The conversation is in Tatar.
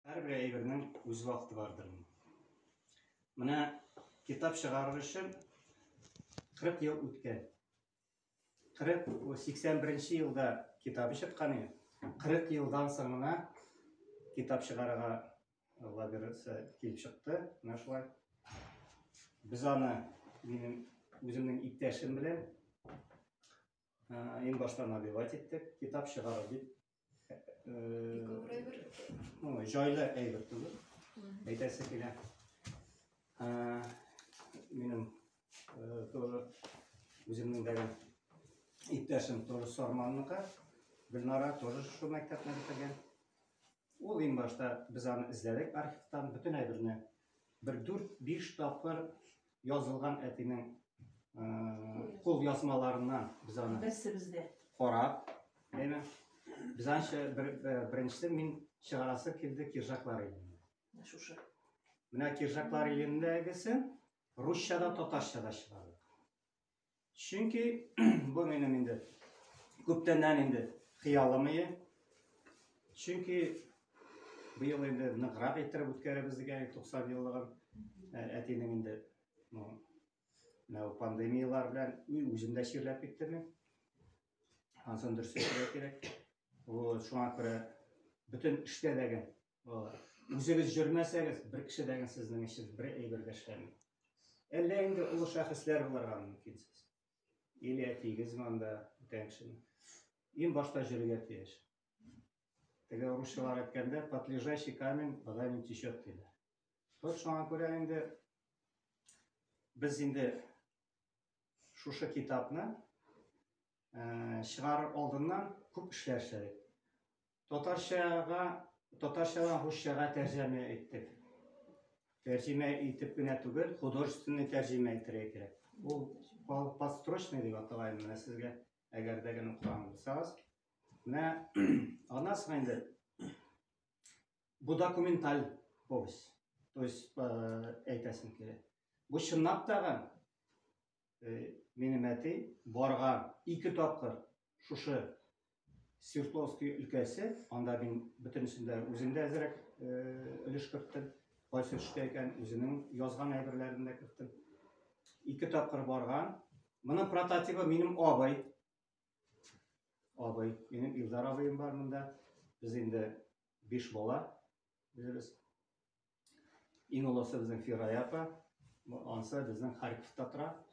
Һәрбер әйбернең үз вакыты бардыр. Менә китап чыгарыр өчен 40 ел үткән. 40 81 нче елда китабы чыккан иде. 40 елдан соң гына китап чыгарырга Алла бирса килеп чыкты. Менә шулай. Без аны минем үземнең иптәшем белән иң башта набивать иттек, китап чыгарыр дип Бик авыр әйбер. Ой, җайлы әйбер түгел. Әйтәсе килә. Минем тоже үземнең дәгән иптәшем тоже Сарманныкы. Гөлнара тоже шул мәктәпне бетергән. Ул иң башта без аны эзләдек архивтан, бөтен әйберне бер дүрт-биш тапкыр язылган әтинең кул язмаларыннан без аны берсебез дә карап, әйме? Без анча бер, беренче мин чыгарасы килде киржаклар илендә. Шушы. Менә киржаклар илендәгесе русча да татарча да чыгарды. Чөнки бу минем инде күптәннән инде хыялым иде. Чөнки быел инде ныграк иттереп үткәрәбез дигән 90 еллыгын ә, әтинең инде ну, менә пандемиялар белән үзем дә чирләп киттем мин. Ансын дөрес әйтергә кирәк. Ул шуңа күрә бөтен эштә дә Балалар, үзегез җөрмәсәгез, бер кеше дә сезнең өчен бер әйбер дә эшләми. Әллә инде олы шәхесләр буларга мөмкин сез. Или әтигез монда бүтән кешене. Иң башта җөрергә тиеш. Теге русчалар әйткәндә, под лежащий камень вода не течет диләр. Вот шуңа күрә инде без инде шушы китапны э, чыгарыр алдыннан күп эшләр эшләдек. Татарчага, татарчадан русчага тәрҗемә иттек. Тәрҗемә итеп кенә түгел, художественный тәрҗемә итәргә кирәк. Ул подстрочный дип атала инде менә сезгә, әгәр дә генә укыган булсагыз. Менә аннан соң инде бу документаль повесть. То есть э, әйтәсем килә. Бу чынлап тагын минем әти барган ике тапкыр шушы Свердловский өлкәсе, анда мин бөтенесен дә үзем дә әзрәк өлеш керттем. Кайсы төштә икән, үзенең язган әйберләрен дә керттем. Ике тапкыр барган. Моның прототипы минем абый. Абый, минем Илдар абыем бар монда. Без инде биш бала. Үзебез. Иң олысы безнең Фирая апа. Ансы безнең Харьковта тора.